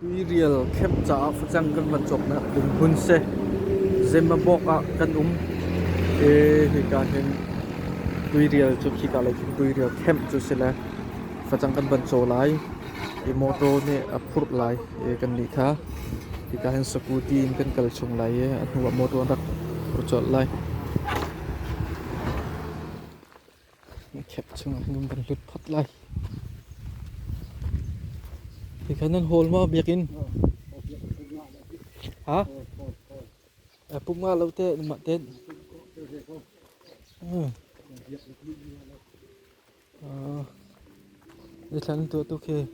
Tuirial camp caah facang kan van cawknak ding hmun si Zimbabwe ah kan um e hika hin Tuirial cu khika lei cun Tuirial camp cu si le Facang kan van caw lai i motor nih a phurh lai i kannih kha hika hin scooty in kan kal chung lai i a hnuah motor an rak phur colh lai. Cap chungah khan kan van lut phot lai. Hi khan nan hall ma biakinn? Ha? Puk nga lo te, nima ten. Nithlan an tuah tuk hi.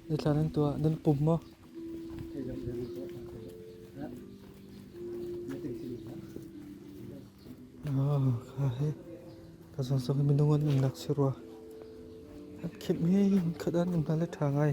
Nithlan an tuah. Nan pum maw? Oh, kha hi. Ka sawsawk minung an in lak si rua. Hat khim hi khat an in hna le tha ngai.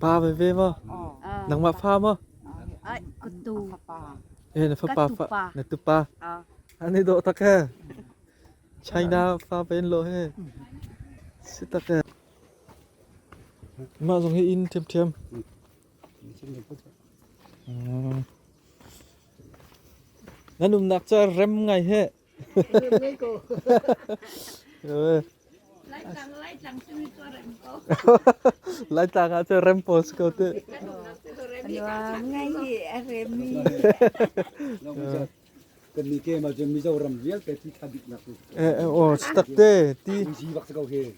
Pa veve maw? Nangmah fa maw? Katu. Eh, na fapa fa. Na tupa. An i dawh tak he. China fa pen lo he. Si tak he. Mah zong hi in thiam thiam. Nan umnak ca rem ngai he. Laitlang ah cu rem post ko te. kan ni ke ma je mizo ram vial te ti tha dik nak eh eh o stak te ti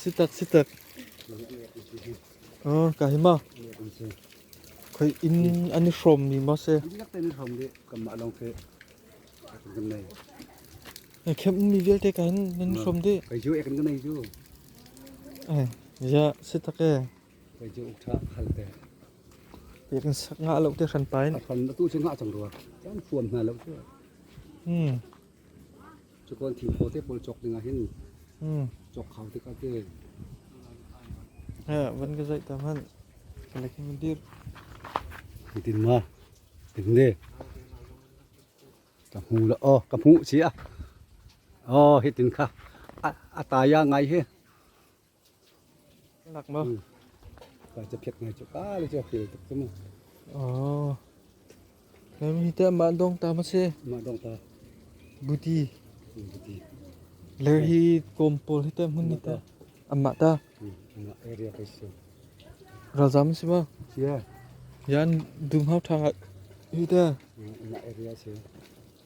Sitak sitak. Ah ka hi ma. Khoi in ani hrom mi ma se. Dinak te ni hrom de kam ma long ke. Kem mi vialte ka hin nan hrom de. Kai ju ek ngai ju. Eh ya sitak e. Kai ju ukta halte. Pekan sak nga lo te shan pain. Kan tu chu nga chang ruwa. Kan fuam na lo chu. Hmm. Cakuan thingphaw te pawl cawk dingah hin cawk hau tikah te. Van ka zaih ta hmanh. Ka lak hi mun dir. Hitin ma. Tingne. Ka hmu la. Oh, ka hmu cia. Oh, hitin kha. A taya ngai hi. Ler hi kawm pawl hi ta hmun hi ta amma ta. Ralzam si ma. Yan dum hau thang hi ta. Na area si.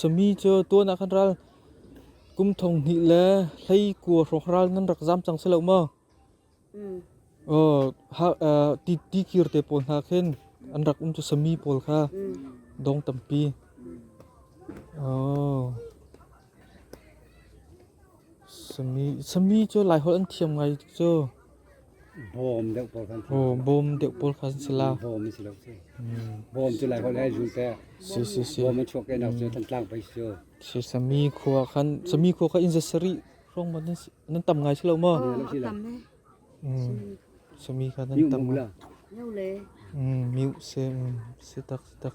Sami cu tuan ah kan ral. Kum thong hnih le hlei kua hrawk ral nan rak zam cang si lo maw? Ti kir te pawl hna khin an rak um cu sami pawl kha dong tampi. Sami cu Laiholh an thiam ngai cu. Bawm deuh pawl kha an thiam. Bawm deuh pawl kha an si la. Bawm an si lo cu. Bawm cu Laiholh he zul te. Si si si. Bawm an chuak ke nak cu Thantlang pei cu. Si Sami khua khan Sami khua kha inn za sarih hrawng maw nan tam ngai si lo maw? Sami kha nan tam maw? Miu se si tak si tak.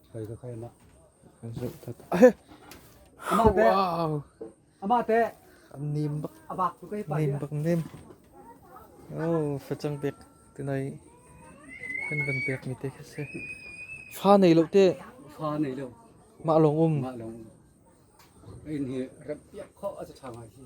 Amah teh nim bak nim bak nem. Oh, facang pek tenai kan van pek mi te kha se. Fa nei lo te. Fa nei lo. Ma long um. Ma long. Ai ni ram piak kho a cha tha ngai hi.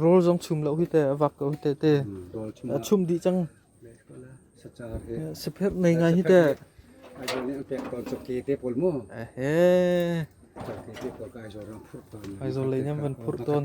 Rawl zong chum lo hi teh, a vak ko hi teh te. A chum dih cang. Sephep nei ngai hi teh. Ahe. Aizawl lei niam van phurh tawn.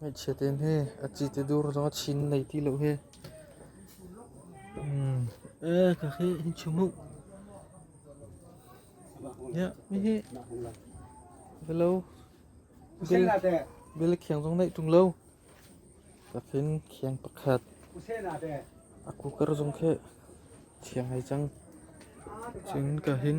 Ngaichia te hne, a ci te dur zong a chin nai ti lo hi. Ka khi hin chum uh. Yeah, mi hi. Belo. Bil khiang zong nai tung lo. Takin khiang pakhat. A cooker zong khi thiang hai cang. Chin ka hin.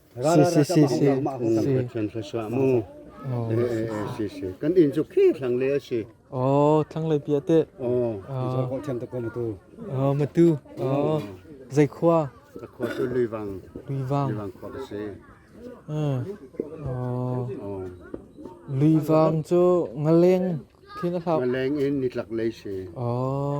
si si si si Pathian thluachuah mu si si kan in chu khi thlang le si oh thlang le pia te oh zo ko them ta ko matu oh matu oh zai khua khua tu lui vang lui vang lui vang khua si oh lui vang chu ngaleng khi na thlau ngaleng in ni tlak le si oh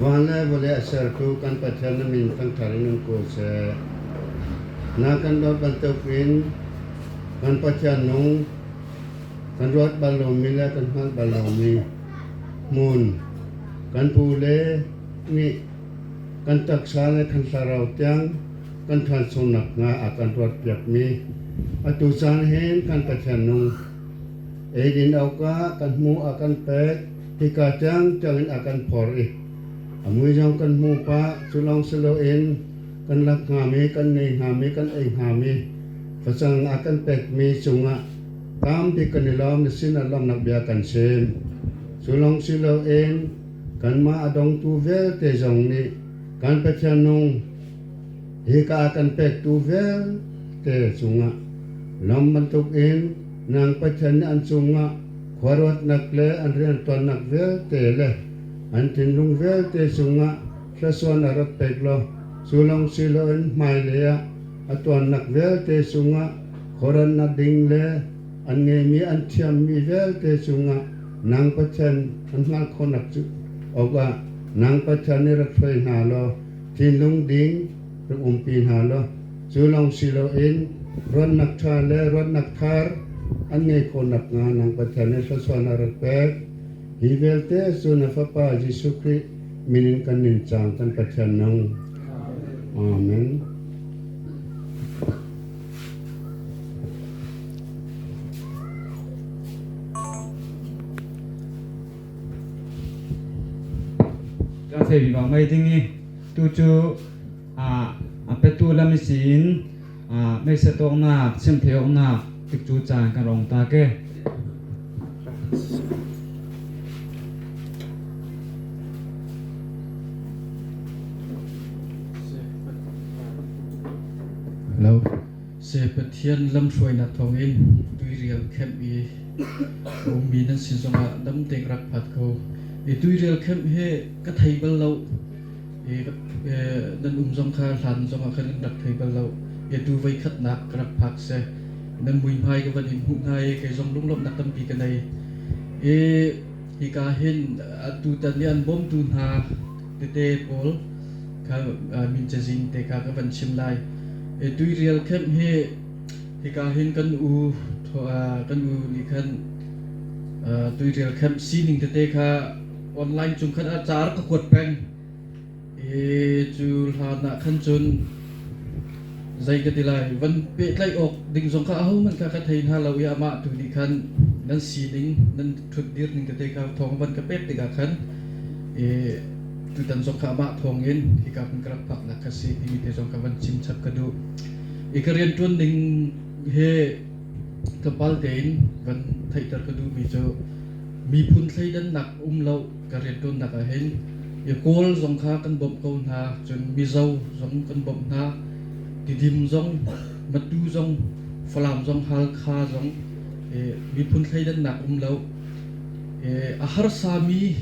Van le vawlei a sertu kan Pathian na min thangthar in um ko seh. Nang kan dawt bantuk in kan Pathian nung kan ruat bal lomi le kan hngalh bal lomi hmun kan pu le nih kan taksa le kan thlarau tiang kan ṭhansungnak hna a kan ruatpiakmi atu caan hin kan Pathian nung eidin awkah kan hmuh a kan pek. Hika tiang ṭangin a kan phor i a mui zong kan hmu pah. Cu lawng si loin kan lak hngami, kan nei hngami, kan ei hngami, facang a kan pekmi cungah tambik kan i lawm na sinah lawmnak bia kan chim. Cu lawng si loin kanmah a dongtu vialte zong nih kan Pathian nung hika a kan pektu vialte cungah lawm bantukin nang Pathian nih an cungah Khuaruatnak le an riantuannak vialte le an thinlung vialte cungah thlaisuan a rat pek law cu lawng si loin hmailei ah a tuannak vialte cungah khuarannak ding le an ngeihmi an thiammi vialte cungah nang Pathian an hngalh khawhnak cu awkah nang Pathian i rat hoi hna law thinlung ding rak umpi hna law cu lawng si loin ruatnak ṭha le ruatnak thar an ngei khawh nakhnga nang Pathian nih thluachuan a rak pek. Hi vialte cu na Fapa Jesuh Khrih min in kan nuncaang kan Pathian nung. Amen. ka thei bi bang mai ding i Tu cu a petu lam i si in meisa tawknak, chiamtheihawknak tik cu caan kan rong ta ke. Hello. Se Pathian lamhruainak thawng in tuirial camp i ummi nan si zongah dam deng rak phat ko. I tuirial camp he ka thei bal lo. Nan um zong kha hlan zongah khan kan rak thei bal lo. I atu voikhatnak ka rak phak seh. Nan muihmai ka van in hmuh hna i kei zong lunglawmhnak tampi ka nei. I hika hin atu tan i an bawmtu hna tete pawl kha min cazin te kha ka van chim lai. I tuirial khem hi hika hin kan u kan u nih khan tuirial khem sining tete kha Online cung khan ah car ka kuat peng i cu hlan ah khan cun zei ka ti lai van pehtlaih awk ding zong kha ahohmanh kha ka thei hna lo i amah tu nih khan nan sining nan ṭhut dir ning tete kha thawng van ka pek tikah khan i tutan zong kha amah thawng in hika hmun ka rak phaknak kha si timi te zong ka van chim chap ka duh i ka rian ṭuan ning he Tlawmpal tein van theihter ka duhmi cu miphun thleidannak a um lo ka rianṭuannak ah hin Kawl zong kha kan bawmh ko hna, cun Mizo zong kan bawmh hna, Tidim zong, Matu zong, Falam zong, Halkha zong miphun thleidannak um lo. A harsami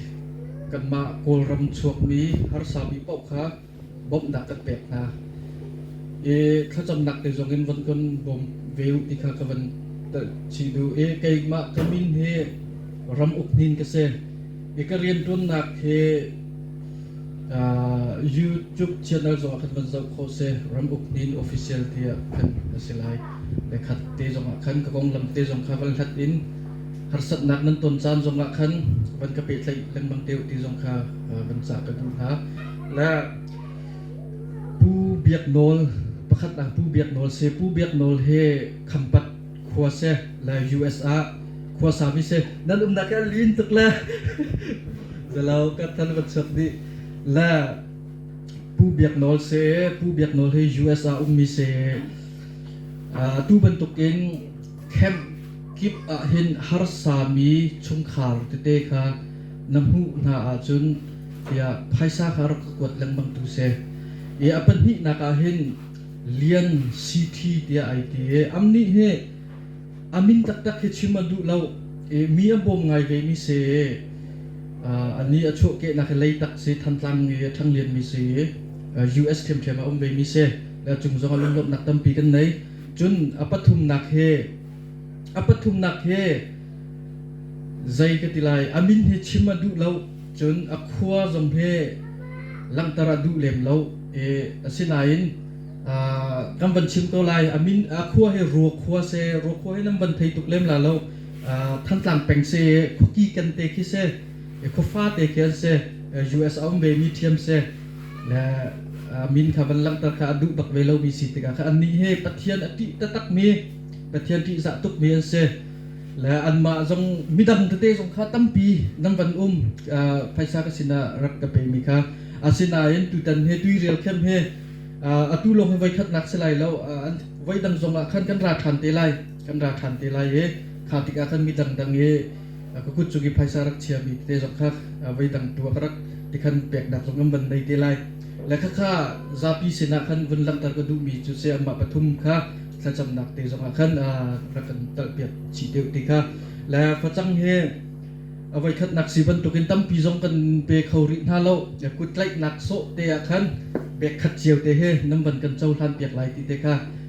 kanmah Kawlram chuakmi harsami paoh kha bawmh dah kan pek hna. I thlacamnak te zong in von kan bawm ve u ti kha ka van chim duh i keimah ka min hi ram uk nin ka si. I ka rianṭuannak hi uh, YouTube channel zongah kan van zoh khawh si ram uk nin official tiah khan a si lai le khat te zongah khan ka konglam te zong kha van hlat in harsatnak nan ton caan zongah khan van ka pehtlaih lengmang te ti zong kha van cah ka duh hna Na Pu Biak Nawl pakhatnak Pu Biak Nawl si. Pu Biak Nawl hi Khampat khua si le US ah khua sami si. Nan umnak hi a lin tuk le zalo ka than van chap nih le Pu Biak Nawl si. Pu Biak Nawl hi US ah ummi si. Uh, tu bantuk in Khenh kip ah hin harsami chungkhar tete kha na hmuh hna ahcun tiah phaisa kha rak ka kuat lengmang tu si. I a pahnihnak ah hin lian city tiah ai ti i am nih hi a min taktak hi chim a duh lo i mi a bawm ngai vemi si i a ni a chuahkehnak hi Leitak si Thantlang i a ṭhanglianmi si i US ṭhiamṭhiam a um vemi si le a cung zong ah lunglawmhnak tampi kan nei. Cun a pathumnak hi a pathumnak hi zei ka ti lai a min hi chim a duh lo cun a khua zong hi langhter a duh lem lo i asinain kan van chim ko lai a min a khua hi ruo khua se ruo khua hi nan van thei tuk lem la lo thantlang peng se khuaki kente khi se khuafate khi an se US a um ve mi thiam se na min kha van langhter kha a duh bak ve lomi si tikah kha annih hi Pathian a ṭih taktakmi Pathian ṭihzah tukmi an si le anmah zong midang tete zong kha tampi nan van um phaisa ka sinah rak ka pemi kha asinain tutan he tuirial khem he atu lawng hi voikhatnak si lai lo voi dang zongah khan kan ra ṭhan te lai kan ra ṭhan te lai i kha tikah khan midang dang i ka kut cu ki phaisa rak chiami tete zong kha voi dang tu ah ka rak tikhan peknak zong kan van nei te lai le khakha zapi sinah khan vun langhter ka duhmi cu se amah pathum kha thlacamnak te zongah khan rak kan talhpiak chih deuh te kha le facang hi avoi khatnak si bantukin tampi zong kan pe kho rih hna lo kut tlaihnak sawh te ah khan bek khat cio te he nam van kan cohlan piak lai ti te kha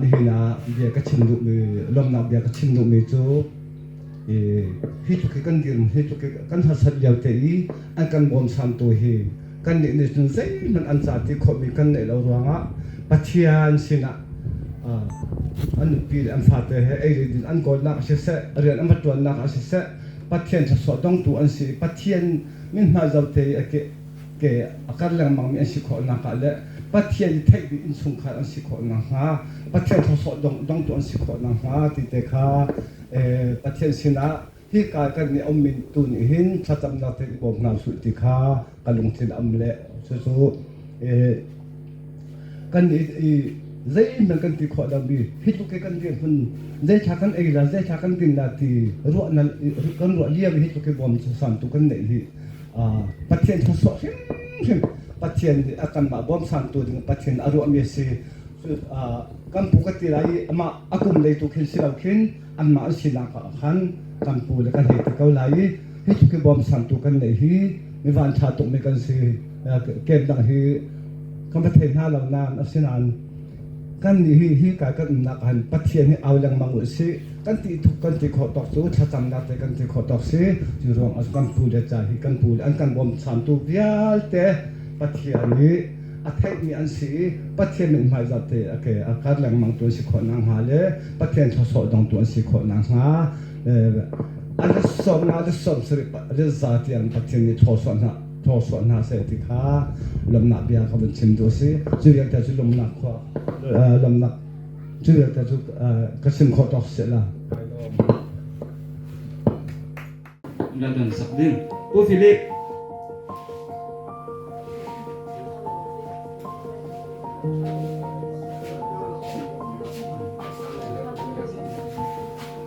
nihin ah bia ka chim duhmi lawmnak bia ka chim duhmi cu i hi tluk hi kan dirhmun hi tluk hi kan harsat liote i an kan bawmsamtu hi kannih nih cun zeihmanh an ca ti khawhmi kan neih lo ruangah Pathian sinah an nupi le an fate he ei le din an kawlnak ah siseh rian an va ṭuannak ah siseh Pathian thluachuah tongtu an si i Pathian min hma zote i a ke ke a kar lengmangmi an si khawhnak ah le Pathian i theih ding innchungkhar an si khawhnak hnga, Pathian thawsawh dong, dongtu an si khawhnak hnga ti te kha eh, Pathian sinah hika kan nih a ummi tu nih hin thlacamnak tein i bawm hna usih ti kha ka lungthin a um le cucu eh, kan i, i zeihman kan ti khawh lomi hi tluk i kan dirhmun zeithla kan ei la zeithla kan din la ti ruahna kan ruah lio hi tluk i bawm cu santu kan neih hi Pathian thluachuah hrimhrim Pathian a kanmah bawmchantu ding Pathian a ruahmi a si. kan pu ka ti lai i amah a kum lei tu khin si lo khin anmah an sinak ah khan kan pu le kan hei ti ko lai i hi tluk i bawmchantu kan neih hi mi vanṭha tukmi kan si. Kem dang hi kan va thei hna lo nain asinain Kannih nih hika kan umnak ah hin Pathian hi au lengmang u sih. Kan ti thuk kan ti khawh tawk cu thlacamnak te kan ti khawh tawk si. Cu ruang ah kan pu le ca hi kan pu le an kan bawmchamtu vialte Pathian hi a theihmi an si i Pathian mit hmaizat te a ke a kar lengmang tu an si khawh nakhnga le Pathian thluachuah dong tu an si khawh nakhnga eh, a le sawm nga le sawm sarih le za tiang Pathian nih thluachuah hna thawhsuah hna seh ti kha lawmhnak bia kha vun chim tu a si cu vialte cu lawmhnak khua lawmhnak cu vialte cu ka chim khawh tawk sehla na dan sak ding u philip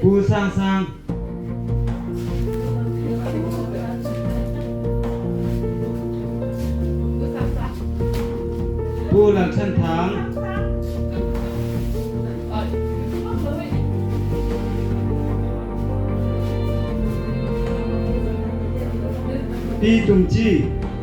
Pu Sang Sang Pu Lal Than Thang Pi Tum Ci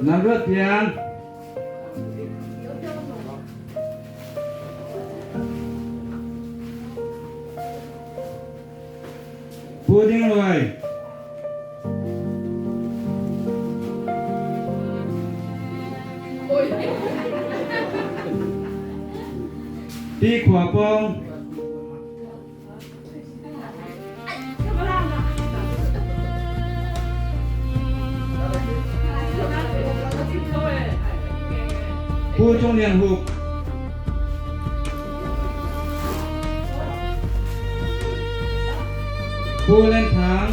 Nan ruat pian. Pudding luai. Ti khua pong. Pu Cung Lian Hup Pu Len Thang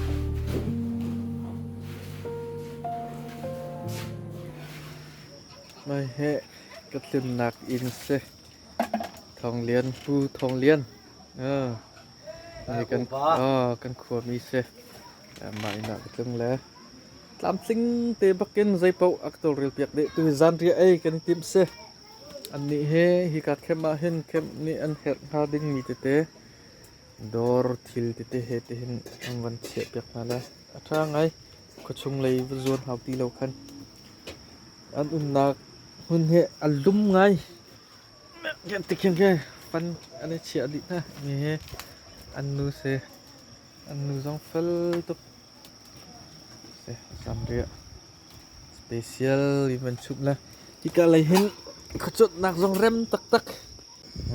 Mei hi ka tlimnak inn si. Thawng lian, pu Thawng Lian. kan, kan khuami si. Mah inn ah ka tling le. Tlamtling te bakin zeipaoh a ka tawlrel piak deh. Tu zanriah ei kan i tim si. Annih hi hi ka khem ah hin khem nih an herh hnga dingmi tete. Dawr thil tete he tihin an van chiahpiak hna lai. A ṭha ngai. Khuachung lei va zuan hau ti lo khan. An umnak hmun hi an lum ngai. Ti khiang khiang fan an i chiah dih hna. Mi hi an nu si. An nu zong fel tuk. Si, sam riah. Special i van chumh le hika lei hin khuacawtnak zong rem taktak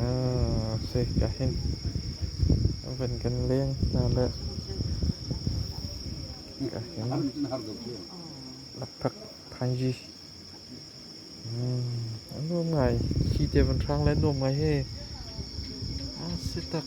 ah si ka hin van kan leng hna le hika hin lakphak thanji nuam ngai khi te van hrang le nuam ngai he a si tak